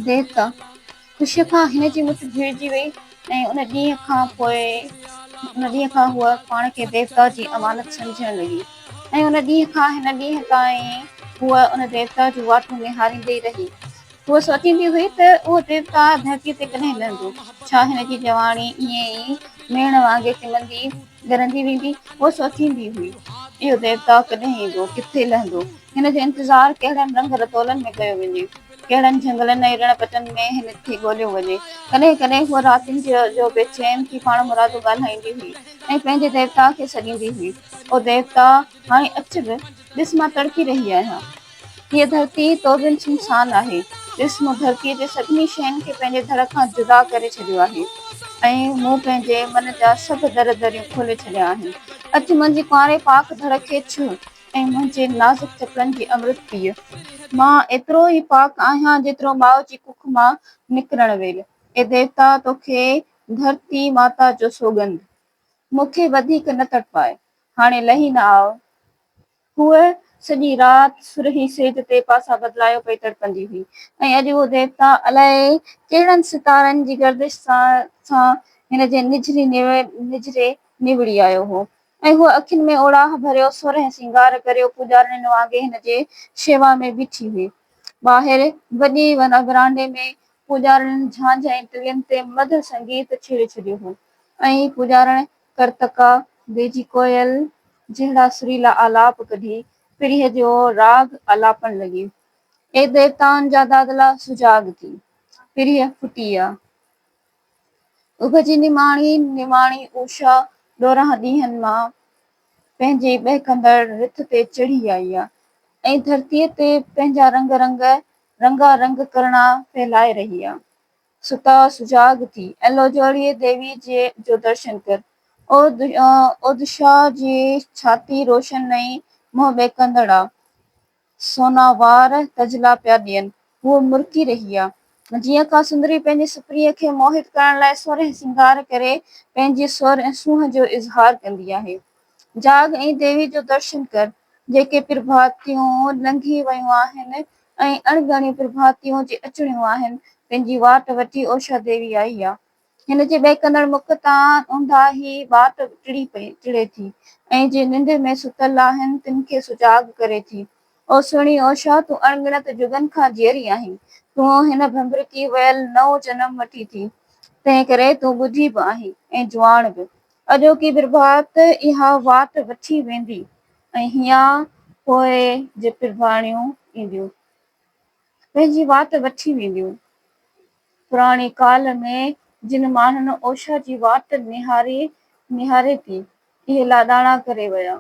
بيت، خوشيء کان هن جي مٺ ڀيڙجي وئي ۽ ان ڏينهن کان پوء ان ڏينهن کان هوء پاڻ کي ديوتا جي امانت سمجهڻ لڳي ۽ ان ڏينهن کان هن ڏينهن تائين هوء ان ديوتا جون واٽون نهاريندي ئي رهي. هوء سوچيندي هئي ته اهو ديوتا ڌرتيء تي ڪڏهن لهندو؟ ڇا هن جي جواڻي ائين ئي ميڻ وانگي ٽمندي ڳرندي ويندي؟ هوء سوچيندي هئي، اهو ديوتا ڪڏهن ايندو؟ ڪٿي لهندو؟ هن جو انتظار ڪهڙن رنگ رتولن ۾ ڪيو وڃي، ڪهڙن جهنگلن ۽ رڻ پٽن ۾ هن کي ڳوليو وڃي. ڪڏهن ڪڏهن هوء راتين جو بي چين ٿي پاڻمرادو ڳالهائيندي هئي ۽ پنهنجي ديوتا کي سڏيندي هئي، او ديوتا! هاڻي اچ به، ڏس مان تڙپي رهي آهيان. هيء ڌرتي تو بن سنسان آهي. ڏس مون ڌرتيء جي سڀني شين کي پنهنجي ڌڙ کان جدا ڪري ڇڏيو آهي ۽ مون پنهنجي من جا سڀ در دريون کولي ڇڏيا آهن. اچ منهنجي ڪنواري پاڪ ڌڙ کي ڇهه، ۽ منهنجي نازڪ چڪن جي امرت پيء مان ايترو ئي پاڪ آهيان جيترو ماء جي ڪک مان نڪرڻ ويل. اي ديوتا تو کي ڌرتي ماتا جو سوڳند. مون کي وڌيڪ نه تڙپاء. هاڻي لهي نه آء. هوء سڄي رات سرهي سيج تي پاسا بدلايو پئي تڙپندي هئي ۽ اڄ اهو ديوتا الاء ڪهڙن ستارن جي گردش سان سان هن جي نجهري نجهري نوڙي آيو هو. ۽ هوء اکين ۾ اوڙاهه ڀريو سر ۽ سينگار ڪريو پوڄارڻين وانگي هن جي شيوا ۾ بيٺي هئي. ٻاهر وڏي ورانڊي ۾ پوڄارڻين جھانجھه ۽ ٽلين تي مڌر سنگيت ڇيڙي ڇڏيو هو ۽ پوڄارڻ ڪرتڪا، بيجي ڪوئل جهڙا سريلا آلاپ ڪڍي پرينء جو راڳ آلاپڻ لڳي. اي ديوتائن جا دادلا سجاڳ ٿي، پرينء ڦٽي آ. اڀ جي نماڻي نواڻي اوشا ڏورانهن ڏينهن مان پنهنجي ٻهڪندڙ رٿ تي چڙهي آئي آ ۽ ڌرتيء تي پنهنجا رنگ رنگ رنگا رنگ ڪرڻا ڦهلائي رهي آ. ستا سجاڳ ٿي ۽ لوجوڙيء ديويء جي جو درشن ڪر. او اوشا جي ڇاتي روشن ۽ منهن ٻهڪندڙ آ. سوناوار تجلا پيا ڏين. هوء مرڪي رهي آ. جيئن ڪا سندري پنهنجي سپريء کي موهت ڪرڻ لاء سر ۽ سينگار ڪري پنهنجي سر ۽ سونهن جو اظهار ڪندي آهي. جاڳ ۽ ديوي جو درشن ڪر. جيڪي پرڀاتيون لنگهي ويون آهن ۽ اڻ ڳڻيون پرڀاتيون جي اچڻيون آهن، تن جي واٽ وٺي اوشا ديوي آئي آ. هن جي ٻهڪندڙ مک تان اونداهي ٻاٽ ٽڙي پئي ٽڙي ٿي ۽ جي ننڊ ۾ ستل آهن تن کي سجاڳ ڪري ٿي. او سهڻي او شاهه تون اڻ ڳڻت جڳن کان جيئري آهين. تون هن ڀنڀرڪي ويل نئون جنم وٺي ٿي. تنهن ڪري تون ٻڌي به آهين ۽ جواڻ به. اڄوڪي پرڀات اها واٽ وٺي ويندي ۽ هيان پوء جي پرڀاڻيون اينديون پنهنجي واٽ وٺي وينديون. پراڻي ڪال ۾ جن ماڻهن اوشا جي واٽ نهاري نهاري ٿي، اهي لاڏاڻا ڪري ويا.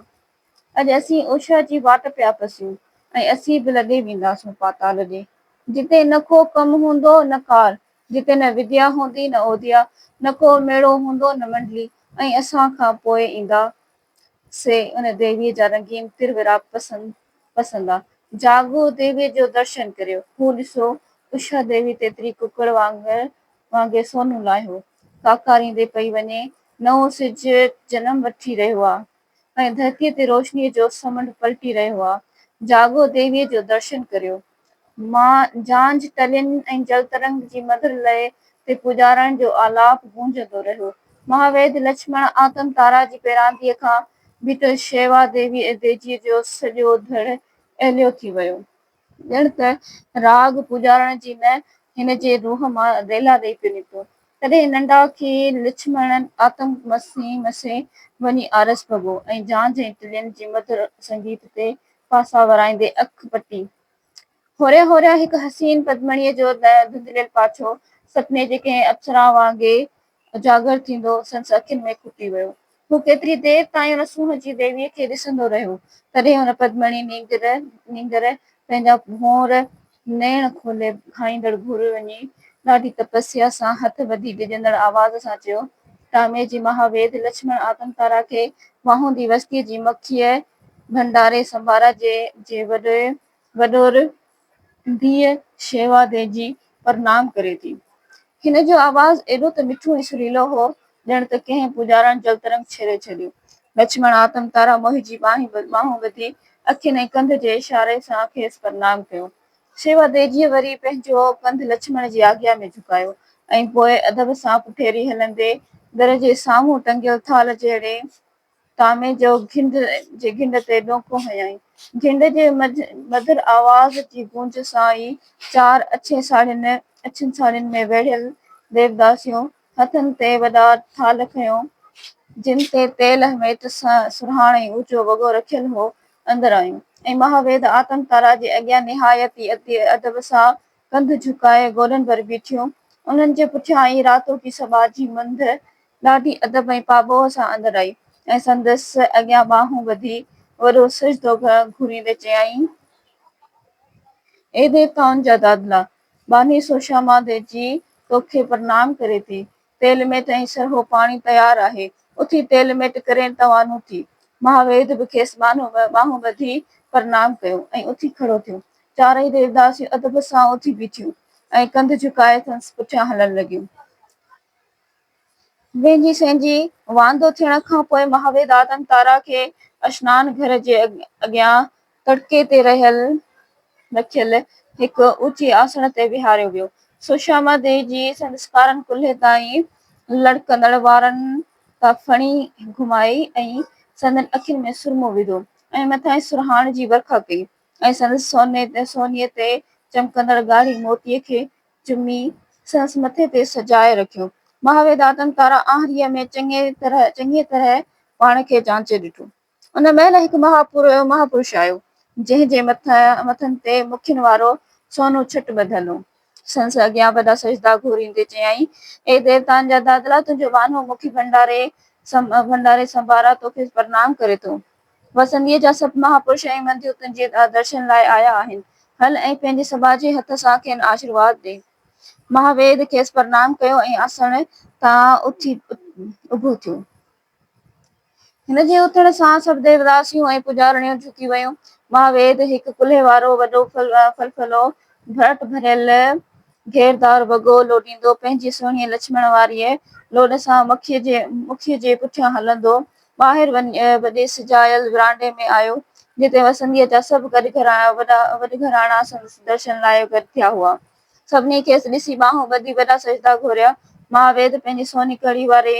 اڄ اسين اوشا جي واٽ پيا پسيون ۽ اسين به لڏي وينداسون پاتال ڏي، جتي نه ڪو ڪم هوندو نه ڪار، جتي نه وديا هوندي نه اوديا، نه ڪو ميڙو هوندو نه منڊلي ۽ اسان کان پوء ايندا سي ان ديويء جا رنگين تر وراپ پسند پسندا. جاڳو ديويء جو درشن ڪريو. هو ڏسو، اشا ديوي تيتري ڪڪڙ وانگر وانگي سونهون لاهيو ڪاڪاريندي پئي وڃي. نئون سج جنم وٺي رهيو آ ۽ ڌرتيء تي روشنيء جو سمنڊ پلٽي رهيو آ. جاڳو ديويء جو درشن ڪريو. مان جھانج تلين ۽ جل ترنگ جي مڌر لئه تي پوڄارڻ جو آلاپ گونجندو رهيو. مهاويد لڇمڻ آتم تارا جي پيرانديء کان به ته شيوا ديوي ۽ ديجيء جو سڄو ڌڙ اهليو ٿي ويو. ڄڻ ته راڳ پوڄارڻ جي نه هن جي روح مان ريلا ڏئي پيو نڪتو. تڏهن ننڊا کي لڇمڻ آتم مسين مسين وڃي آرس ڀڳو ۽ جھانج ۽ تلين جي مڌر سنگيت تي پاسا ورائيندي اک پٽي. هوريان هوريان هڪ حسين پدمڻيء جو نه ڌنڌليل پاڇو، سپني جي ڪنهن اپسرا وانگي اجاگر ٿيندو، سندس اکين ۾ کوٽي ويو. هو ڪيتري دير تائين ان سونهن جي ديويء کي ڏسندو رهيو. تڏهن هن پدمڻي نينگر نينگر پنهنجا ڀونر نيڻ کولي کائيندڙ گهر وڃي ڏاڍي تپسيا سان هٿ ٻڌي ڊڄندڙ آواز سان چيو، ٽامي جي مها ويد لڇمڻ آتم تارا کي واهوندي وستيء جي مکيه ڀنڊاري سمبارا جي جي وڏي وڏور ڌيء شيوا ديجي پرنام ڪري ٿي. هن جو آواز ايڏو ته مٺو ۽ سريلو هو ڄڻ ته ڪنهن پوڄارڻ جلترنگ ڇيڙي ڇڏيو. لڇمڻ آتم تارا موهي جي ٻانهون ٻڌي، اکين ۽ ڪنڌ جي اشاري سان کيس پرنام ڪيو. شيوا ديجيء وري پنهنجو ڪنڌ لڇمڻ جي آجيا ۾ جهڪايو ۽ پوء ادب سان پٺيري هلندي، در جي سامهون ٽنگيل ٿالهه جهڙي، ڪامي جو گهنڊ جي گهنڊ تي ڏونڪون هنيائين. گهنڊ جي مڌر آواز جي گونج سان ئي چار اڇين ساڙهين اڇين ساڙهين ۾ ويڙهيل ديوداسيون هٿن تي وڏا ٿالهه کنيو، جن تي تيل هميٽ سرهاڻ ۽ اوچو وڳو رکيل هو، اندر آيون ۽ مهاويد آتم تارا جي اڳيان نهايت ئي ادب سان ڪنڌ جهڪائي گوڏن ڀر بيٺيون. انهن جي پٺيان ئي راتوڪي سٻاجهي منڌ ڏاڍي ادب ۽ پاٻوهه سان اندر آئي ۽ سندس اڳيان ٻانهون ٻڌي وڏو سجدو گهوريندي چيائين، اي ديوتائن جا دادلا! ٻانهي سوشا مان دي جي توکي پرنام ڪري ٿي. تيل ميٽ ۽ سرهو پاڻي تيار آهي. اٿي تيل ميٽ ڪرين توانون ٿي. مها ويد به کيس ٻانهون ٻڌي پرنام ڪيو ۽ اٿي کڙو ٿيو. چارئي ديوداسيون ادب سان اٿي بيٺيون ۽ ڪنڌ جهڪائي سندس پٺيان هلڻ لڳيون. وينجهي سينجهي واندو ٿيڻ کان پوء مهاوير دادن تارا کي اشنان گهر جي اڳيان تڙڪي تي رکيل هڪ اوچي آسڻ تي ويهاريو ويو. سوشاما ديوي جي سندس ڪارن ڪلهي تائين لڙڪندڙ وارن تان ڦڻي گهمائي ۽ سندن اکين ۾ سرمو وڌو ۽ مٿانئين سرهاڻ جي ورکا ڪئي ۽ سندس سوني تي چمڪندڙ ڳاڙهي موتي کي چمي سندس مٿي تي سجائي رکيو. مهاوير دادن تارا آهريء ۾ چڱيء طرح چڱيء طرح پاڻ کي جانچي ڏٺو. ان مهل هڪ مهاپورهيو مهاپرش آيو، جنهن جي مٿن تي مکين وارو سونو ڇٽ ٻڌل هو. سندس اڳيان وڏا سجدا گهوريندي چيائين، اي ديوتائن جا دادلا، تنهنجو وانهو مکي ڀنڊاري سنڀارا توکي پرنام ڪري ٿو. وسنديء جا سڀ مهاپرش ۽ منڌيون تنهنجي درشن لاء آيا آهن. هل ۽ پنهنجي سٻاجهي هٿ سان کين آشيرواد ڏي. مهاويد کيس پرنام ڪيو ۽ آسڻ تان اٿي اڀو ٿيو. هن جي اٿڻ سان سڀ ديوداسيون ۽ پوڄارڻيون جهڪي ويون. مهاويد هڪ ڪلهي وارو وڏو ڦلڦلو ڀرٽ ڀريل گهيردار وڳو لوڏيندو پنهنجي سهڻيء لڇمڻ واريء لوڏ سان مکيء جي پٺيان هلندو ٻاهر وڏي سجايل ورانڊي ۾ آيو، جتي وسنديء جا سڀ گڏ گهراڻا، وڏا وڏ گهراڻا سندس درشن لاء گڏ ٿيا هئا. سڀني کيس ڏسي ٻانهون ٻڌي وڏا سجدا گهوريا. ماء ويد پنهنجي سوني ڪڙي واري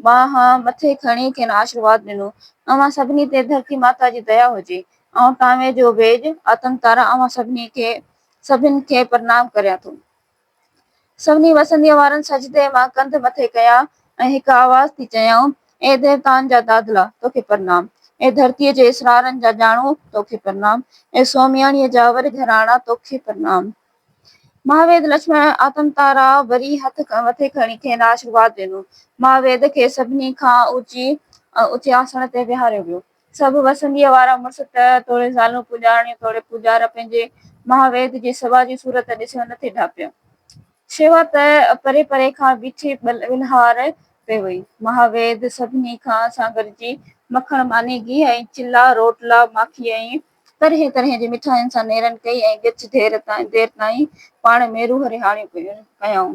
ٻانهن مٿي کڻي کين آشرواد ڏنو، اوهان سڀني تي ڌرتي ماتا جي ديا هجي. آئون ٽانوي جو ويڄ آتنڪتارا اوهان سڀني کي سڀن کي پرنام ڪريان ٿو. سڀني وسنديء وارن سجدي مان ڪنڌ مٿي ڪيا ۽ هڪ آواز ٿي چيائون، اي ديوتائن جا دادلا، توکي پرنام! اي ڌرتيء جي اسرارن جا ڄاڻو، توکي پرنام! اي سومياڻيء جا ور گهراڻا، توکي پرنام! مهاويد لڇمڻ آتم تارا وري هٿ مٿي کڻي کين آشرواد ڏنو. مهاويد کي سڀني کان اوچي اوچي آسڻ تي ويهاريو ويو. سڀ وسنديء وارا مڙس ته توڙي زالون پوڄارڻيون توڙي پوڄار پنهنجي مها ويد جي سوڀا جي صورت ڏسيو نٿي ڍاپيو. شيوا ته پري پري کان بيٺي ٻلهار پئي هئي. مها ويد سڀني کان سان گڏجي مکڻ ماني گيهه ۽ چلا، روٽلا، ماکي ۽ طرحين طرحين جي مٺاين سان نيرن ڪئي ۽ ڳچ دير تائين پاڻ ۾ روح رهاڻيون ڪيائون.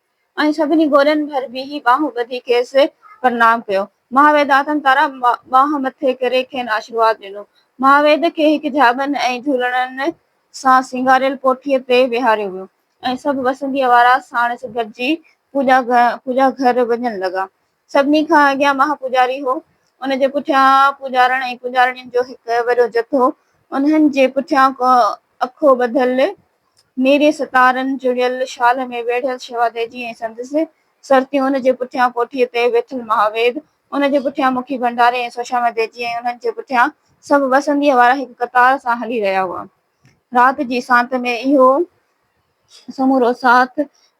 ۽ سڀني گورين ڀر بيهي ٻانهون ٻڌي کيس پرنام ڪيو. مهاويد آتم تارا ٻانهن مٿي ڪري کين آشيرواد ڏنو. مهاويد کي هڪ جهاٻن ۽ جهولڙن سان سينگاريل ڪوٺيء تي ويهاريو ويو ۽ سڀ وسنديء وارا ساڻس گڏجي پوڄا گهر وڃڻ لڳا. سڀني کان اڳيان مها پوڄاري هو. ان جي پٺيان پوڄارڻ ۽ پوڄارڻين جو هڪ وڏو جٿو. انهن جي پٺيان ڪو اکو ٻڌل، نيري ستارن جڙيل شال ۾ ويڙهيل شيوا ديجي ۽ سندس سرتيون. ان جي پٺيان ڪوٺيء تي ويٺل مها ويد. ان جي پٺيان مکي ڀنڊاري ۽ سوشاما ديجي ۽ انهن جي پٺيان سڀ وسنديء وارا هڪ قطار سان هلي رهيا هئا. رات جي سانت ۾ اهو سمورو ساٿ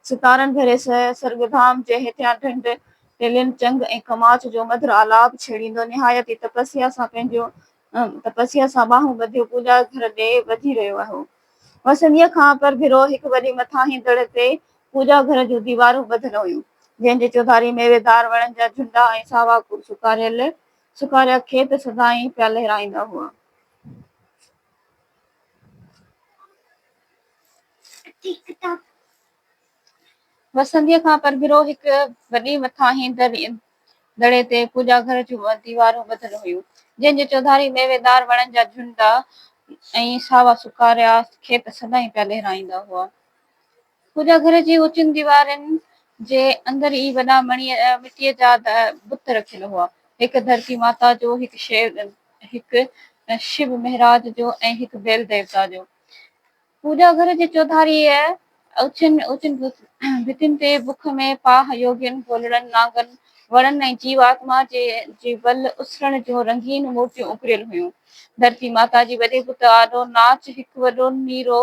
ستارن ڀري سرگودام جي هيٺيان ڍنڍ ٽيلين چنگ ۽ کماچ جو مڌر آلاپ ڇيڙيندو نهايت ئي تپسيا سان پنهنجو تپسيا سان ٻانهون ٻڌيو پوڄا گهر ڏي وڌي رهيو هو. وسنديء کان پرڀرو هڪ وڏي مٿاهين دڙ تي پوڄا گهر جون ديوارون ٻڌل هيون، جنهن جي چوڌاري ميويدار وڻن جا جهنڊا ۽ ساوا سڪاريل سڪاريا کيت سدائين پيا لهرائيندا هئا. وسنديء کان پرڀرو هڪ وڏي مٿاهين دڙي تي پوڄا گهر جون ديوارون ٻڌل هيون، جنهن جي چوڌاري ميويدار وڻن جا جهنڊا ۽ ساوا سڪاريا کيت سدائين پيا لهرائيندا هئا. پوڄا گهر جي اوچين ديوارن جي اندر ئي وڏا مٽيء جا بت رکيل هئا. هڪ ڌرتي ماتا جو، هڪ شيو، هڪ شو مهراج جو ۽ هڪ بيل ديوتا جو. پوڄا گهر جي چوڌاريء اوچين اوچين ڀتين تي بک ۾ پاهه يوگين، گولڙن، نانگن ۽ وڻن ۽ جيو آتما جي ول اسرڻ جون رنگين مورتيون اڪريل هيون. ڌرتي ماتا جي وڏي بت آڏو ناچ هڪ وڏو نيرو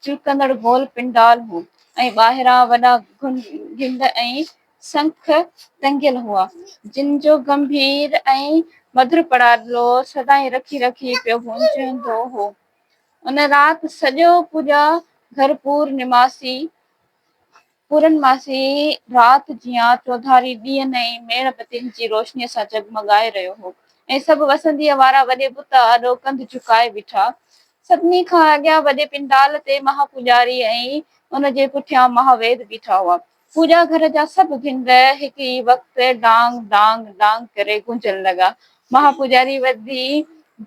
چلڪندڙ گول پنڊال هو ۽ ٻاهران وڏا گهن گهنڊ ۽ سنک ٽنگيل هئا، جن جو گنڀير ۽ مڌر پڙاڏلو سدائين رکي رکي پيو گونجندو هو. ان رات سڄو پوڄا گهر پور نماسي پورنماسي رات جيان چوڌاري ڏيئن ۽ ميڻ بتين جي روشنيء سان جڳمڳائي رهيو هو ۽ سڀ وسنديء وارا وڏي بت آڏو ڪنڌ جهڪائي بيٺا. سڀني کان اڳيان وڏي پنڊال تي مها پوڄاري ۽ ان جي پٺيان مها ويد بيٺا هئا. پوڄا گهر جا سڀ ڀنگ هڪ ئي وقت ڊانگ ڊانگ ڊانگ ڪري گونجڻ لڳا ۽ مها پوجاري وڌي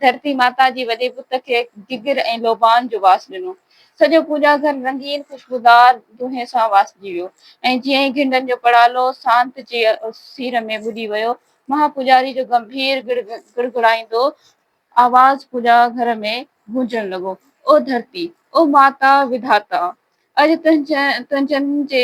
ڌرتي ماتا جي وڏي بت کي گگر ۽ لوبان جو واس ڏنو. سڄو پوڄا گهر رنگين خوشبودار دونهين سان واسجي ويو ۽ جيئن ئي گهنڊن جو پڙالو سانت جي سير ۾ ٻڏي ويو، مها پوجاري جو گنڀير گڙگڙائيندو آواز پوڄا گهر ۾ گونجڻ لڳو، او ڌرتي! او ماتا وڌاتا! اڄ تنهنجن جي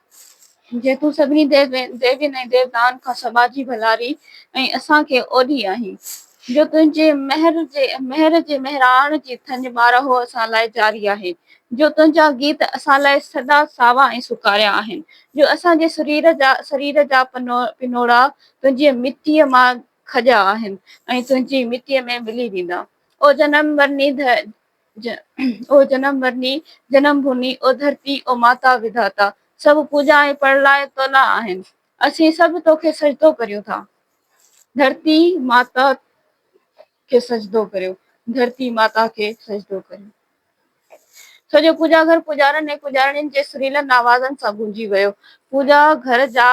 جيتون سڀني ديوين ۽ ديوتائن کان سٻاجهي ڀلاري ۽ اسان کي اوڏي آهين، جو تنهنجي مهر جي مهر جي مهراڻ جي ٿڃ ٻارهو اسان لاء جاري آهي، جو تنهنجا گيت اسان لاء سدا ساوا ۽ سڪاريا آهن، جو اسان جي سرير جا سرير جا پنوڙا تنهنجي مٽيء مان کڄيا آهن ۽ تنهنجي مٽيء ۾ ملي ويندا. او جنم مرني او جنم مرني، جنم ڀوني، او ڌرتي، او ماتا وڌاتا، سڀ پوڄا ۽ پڙلاء تولاء آهن. اسين سڀ توکي سجدو ڪريون ٿا. ڌرتي ماتا کي سجدو ڪريو، ڌرتي ماتا کي سجدو ڪريو. سڄو پوڄا گهر پوڄارن ۽ پوڄارڻين جي سريلن آوازن سان گونجي ويو. پوڄا گهر جا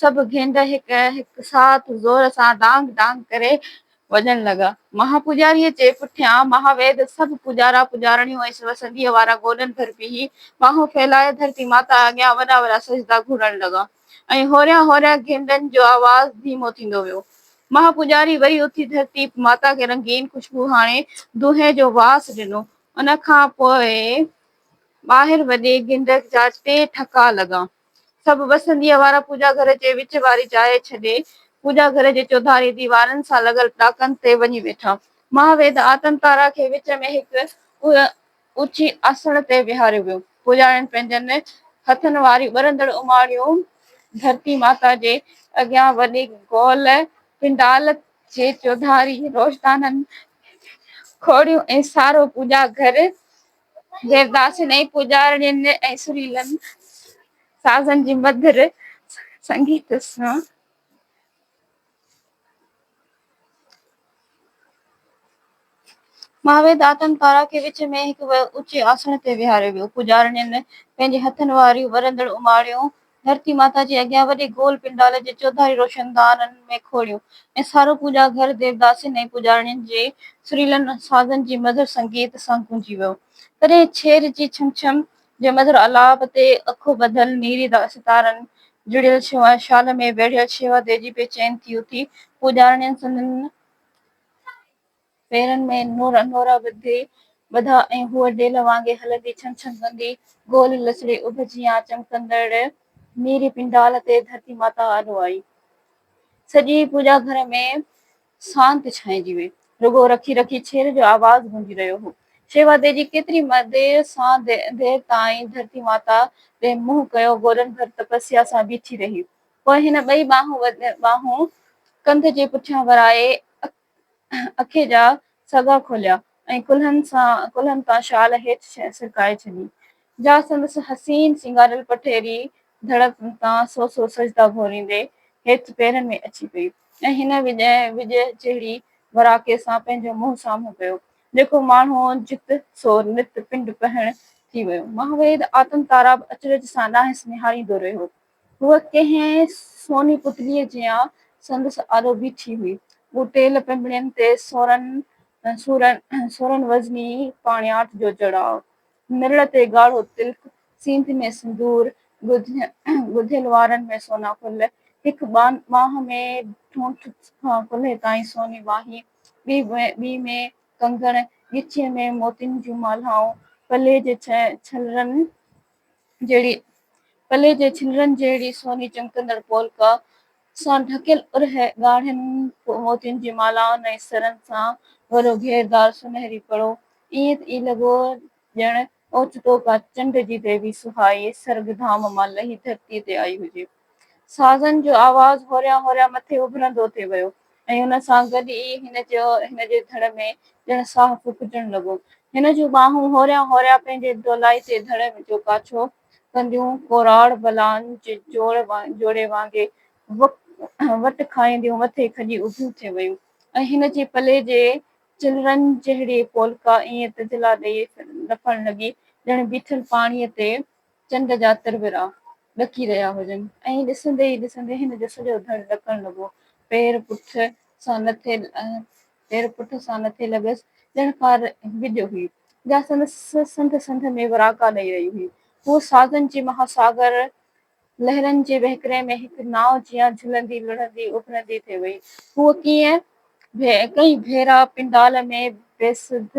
سڀ گينڊ هڪ هڪ ساٿ زور سان ڊانگ ڊانگ ڪري وڄڻ لڳا. مها پوڄاريء جي پٺيان مهاويد سڀ پوڄارا پوڄارڻيون ۽ سوء سنڌيء وارا گوڏن ڀر بيهي ٻانهون ڦهلائي ڌرتي ماتا اڳيان وڏا وڏا سجدا گهورڻ لڳا ۽ هوريان هوريان گينڊن جو آواز ڌيمو ٿيندو ويو. مها پوڄاري وري اٿي ڌرتي ماتا کي رنگين خوشبو هاڻي دونهين جو واس ڏنو. ان کان پوء ٻاهر وڏي گينڊ جا ٽي ٺڪا لڳا. سڀ وسنديء وارا پوڄا گهر جي وچ واري جاء ڇڏي، پوڄا گهر جي چوڌاري ديوارن سان لڳل ڏاڪن تي وڃي ويٺا. مها ويد آتن تارا کي وچ ۾ هڪ اوچي آسڻ تي ويهاريو ويو. پوڄارين پنهنجن هٿن واريون ٻرندڙ اماڻيون ڌرتي ماتا جي اڳيان وڏي گول پنڊال جي چوڌاري روشدانن کي کوڙيون ۽ سارو پوڄا گهر ديوداسين ۽ پوڄارڻين ۽ سريلن سازن جي مڌر سنگيت سان ماهوي داتن پارا کي وچ ۾ هڪ اوچي آسڻ تي ويهاريو ويو. پوڄارڻين پنهنجي هٿن واريون ورندڙ اماڻيون ڌرتي ماتا جي اڳيان وڏي گول پنڊال جي چوڌاري روشندانن ۾ کوڙيون ۽ سارو پوڄا گهر ديوداسين ۽ پوڄارڻين جي سريلن سازن جي مڌر سنگيت سان گونجي ويو. تڏهن ڇير جي ڇم ڇم جي مڌر آلاپ تي اکو ٻڌل نيري ستارن جڙيل شيوا شال ۾ ويڙهيل شيوا ديجي بي چين ٿي اٿي پوڄارڻين سندن پيرن ۾ نورا نورا ٻڌي ٻڌا ۽ هوء ڊيل وانگي هلندي ڇن ڇن ڪندي گول لسڙي اڀ جيان چمڪندڙ نيري پنڊال تي ڌرتي ماتا آڏو آئي. سڄي پوڄا گهر ۾ سانت ڇانئجي وئي. رڳو رکي رکي ڇير جو آواز گونجي رهيو هو. شيوا تيجي ڪيتري دير سان دير تائين ڌرتي ماتا ڏي منهن ڪيو گولن ڀر تپسيا سان بيٺي رهي. پوء هن ٻئي ٻانهون ڪنڌ جي پٺيان ورائي اک اکي جا سڳا کوليا ۽ ڪلهن سان ڪلهن تان شال هيٺ سرڪائي ڇڏي، جا سندس حسين سينگاريل پٺيري ڌڙ تان سو سو سجدا گهوريندي هيٺ پيرن ۾ اچي پئي ۽ هن وڄ جهڙي وراڪي سان پنهنجو منهن سامهون ڪيو، جيڪو ماڻهو جت سو نت پنڊ پهڻ ٿي ويو. مهاويد آتم تارا به اچرج سان ڏانهس نهاريندو رهيو. هوء ڪنهن سوني پتليء جيان سندس آڏو بيٺي هئي. هو ٽيل پنبڻين تي سورن سورن وزني پاڻياٺ جو چڙهاء، مرڙ تي ڳاڙهو تلڪ، سينڌ ۾ سندور، ڳڌيل وارن ۾ سونا ڦل، هڪ ٻانهه ۾ ٺونٺ کان ڪلهي تائين سوني ٻانهي، ٻي ۾ ڪنگڻ، ڳچيء ۾ موتين جون مالهائون، پلي جي ڇلرن، جهڙي پلي جي ڇنرن جهڙي سوني چمڪندڙ پولڪا سان ڍڪيل ارهه ڳاڙهن موتين جي مالائن ۽ سرن سان ڀريو گهيردار سونهري پڙو ائين ئي لڳو ڄڻ اوچتو ڪا چنڊ جي ديوي سهائي سرڳ ڌام مان لهي ڌرتي تي آئي هجي. سازن جو آواز هوريان هوريان مٿي اڀرندو ٿي ويو ۽ ان سان گڏ ئي هن جو هن جي ڌڙ ۾ ڄڻ ساهه ڦوڪجڻ لڳو. هن جون ٻانهون هوريان هوريان پنهنجي دولائي تي ڌڙ جو ڪاڇو ڪنديون ڪوراڙ بلان جي جوڙي وانگي وٽ کائينديون مٿي کڄي اڀيون ٿي ويون ۽ هن جي پلي جي چلرن جهڙي پولڪا ائين تجلا ڏئي لڦڻ لڳي ڄڻ بيٺل پاڻيء تي چنڊ جا ترورا ڏڪي رهيا هجن. ائين ڏسندي ئي ڏسندي هن جو سڄو ڌڙ ڏڪڻ لڳو. پير پٺ سان نٿي پير پٺ سان نٿي لڳس، ڄڻ ڪار گجهه هئي، جا سندس سنڌ سنڌ ۾ وراڪا ڏئي رهي هئي. هوء سازن جي مها ساگر، لهرن جي وهڪري ۾ هڪ ناء جيان جهلندي لڙهندي اڀرندي ٿي وئي. هوء ڪيئي ڪئين ڀيرا پنڊال ۾ بي سڌ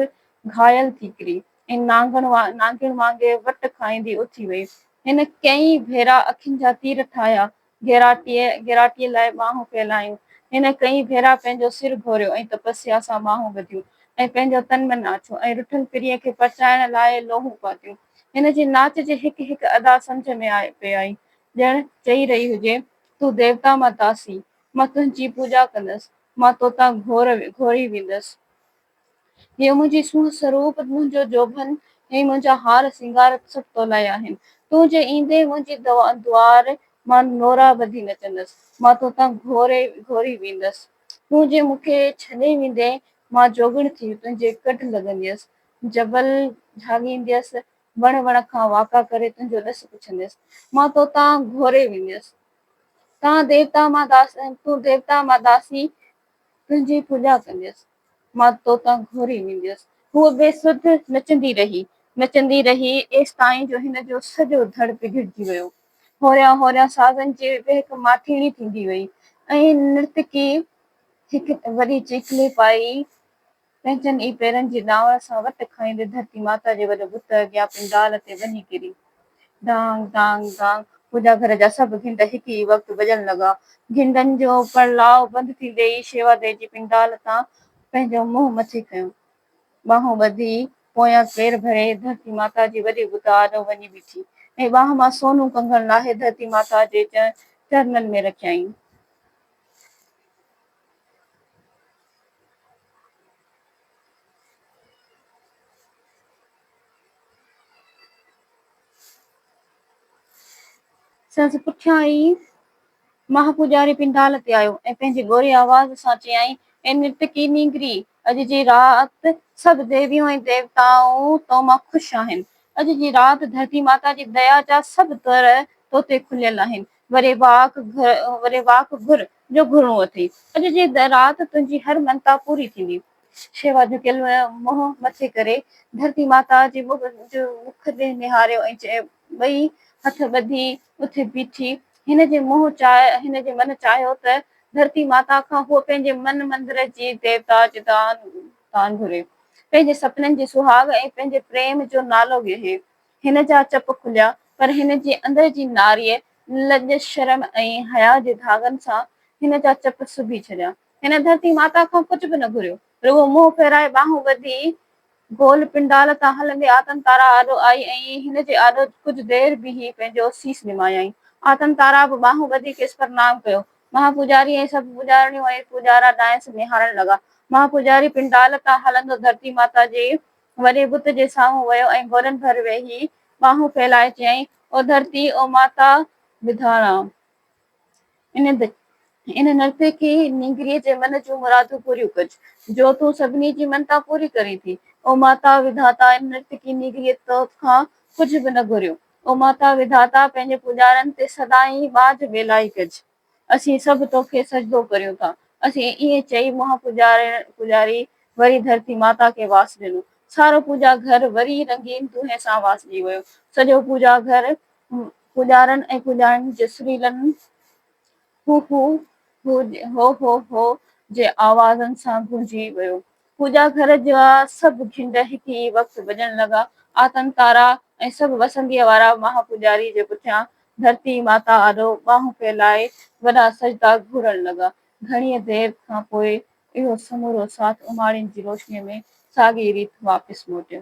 گهايل ٿي ڪري. ۽ نانگڻ نانگڻ وانگي وٽ کائيندي اٿي وئي. هن ڪئين ڀيرا اکين جا تير ٺاهيا، گيراٽيء گيراٽيء لاء ٻانهون ڦهلايون. هن ڪئين ڀيرا پنهنجو سر گهوريو ۽ تپسيا سان ٻانهون ٻڌيون ۽ پنهنجو تن من آڇيو ۽ رٺل پرينء کي پرچائڻ لاء لوهون پاتيون. هن جي ناچ جي هڪ هڪ ادا سمجهه ۾ آئي پئي آئي، ڄڻ چئي رهي هجي، تون ديوتا مان تاسين، مان تنهنجي پوڄا ڪندس، مان توتان گهور گهوري ويندس. هيء منهنجي سونهن سروپ، منهنجو جوڀن، هي منهنجا هار سينگار سڀ تولاء آهن. تون جي ايندين منهنجي دوار مان نورا ٻڌي نچندس، مان توتان گهوري گهوري ويندس. تون جي مون کي ڇڏي ويندين، مان جوڳڻ ٿي تنهنجي ڪڍ لڳنديس، جبل جهاڳينديس، وڻ وڻ کان واڪا ڪري تنهنجو ڏس پڇنديس، مان توتان گهوري وينديس. تان ديوتا مان داس، تون ديوتا مان داسي، تنهنجي پوڄا ڪنديس. مان توتان گهوري وينديس. هوء بي سڌ نچندي رهي، نچندي رهي ايستائين جو هن جو سڄو ڌڙ بگڙجي ويو. هوريان هوريان سازن جي وهڪ ماٿيڻي ٿيندي وئي ۽ نرتڪي هڪ وڏي چيڪلي پائي پنهنجن ئي پيرن جي ڏانور سان وٽ کائيندي ڌرتي ماتا جي وڏي بت اڳيان پنڊال تي وڃي ڪري. ڍانگ ڍانگ ڍانگ منهنجا گهر جا سڀ گهنڊ هڪ ئي وقت وڄڻ لڳا. گهنڊن جو پڙلاء بند ٿيندي ئي شيوا دير جي پنڊال تان پنهنجو منهن مٿي ڪيو. ٻانهون ٻڌي پويان پير ڀري ڌرتي ماتا جي وڏي بت آڏو وڃي بيٺي ۽ ٻانهن مان سونو ڪنگڻ لاهي ڌرتي ماتا جي چرنن ۾ رکيائين. سندس پٺيان ئي ماهه پوڄاري پنڊال تي آيو ۽ پنهنجي ڳوري آواز سان چيائين، اي نرتڪي نينگري! اڄ جي رات سڀ ديويون ۽ ديوتائون تو مان خوش آهن. اڄ جي رات ڌرتي ماتا جي ديا جا سڀ در تو تي کليل آهن. وري واڪ گهر جو گهرڻو اٿئي. اڄ جي رات تنهنجي هر منتا پوري ٿيندي. شيوا جهڪيل منهن مٿي ڪري ڌرتي ماتا جي مک ڏي نهاريو ۽ ٻئي هٿ ٻڌي اٿي بيٺي. هن جي هن جي من چاهيو ته ڌرتي ماتا کان هوء پنهنجي من مندر جي ديوتا جي دان گهري. پنهنجي سپنن جي سهاڳ ۽ پنهنجي پريم جو نالو ڳهي. هن جا چپ کليا، پر هن جي اندر جي ناريء لڄ، شرم ۽ حياء جي ڌاڳن سان هن جا چپ سبي ڇڏيا. هن ڌرتي ماتا کان ڪجهه به نه گهريو، رڳو منهن ڦيرائي ٻانهون ٻڌي گول پنڊال تان هلندي آتن تارا آڏو آئي ۽ هن جي آڏو ڪجهه دير بيهي پنهنجو سيس نمايائين. آتن تارا به ٻانهون ٻڌي کيس پرنام ڪيو. مها پوڄاري ۽ سڀ پوڄارڻيون ۽ پوڄارا ڏانهس نهارڻ لڳا. مها پوڄاري پنڊال تان هلندو ڌرتي ماتا جي وري بت جي سامهون ويو ۽ گوڏن ڀر ويهي ٻانهون ڦيلائي چيائين، او ڌرتي، او ماتا ٻڌاڻا! ان ان نرتي کي نينگريء جي من جون مرادون پوريون ڪج، جو تون سڀني جي منتا پوري ڪرين ٿي. او ماتا وڌاتا، ان نرتڪي نينگريء توت کان ڪجهه به نه گهريو. او ماتا وڌاتا، پنهنجي پوڄارن تي سدائين ٻاجهه ٻيلائي ڪج. اسين سڀ توکي سجدو ڪريون ٿا. اسين ائين چئي منهن پوڄاري وري ڌرتي ماتا کي واس ڏنو. سارو پوڄا گهر وري رنگين دونهين سان واسجي ويو. سڄو پوڄا گهر پوڄارن ۽ پوڄاڻين جي سريلن هو هو هو هو هو هو جي آوازن سان گونجي ويو. پوڄا گهر جا سڀ گهنڊ هڪ ئي وقت وڄڻ لڳا. آتن تارا ۽ سڀ وسنديء وارا مها پوڄاريء جي پٺيان ڌرتي ماتا آڏو ٻانهون ڦهلائي وڏا سجدا گهورڻ لڳا. گهڻيء دير کان پوء اهو سمورو ساٿ اماڻين جي روشنيء ۾ ساڳيء ريت واپس موٽيو.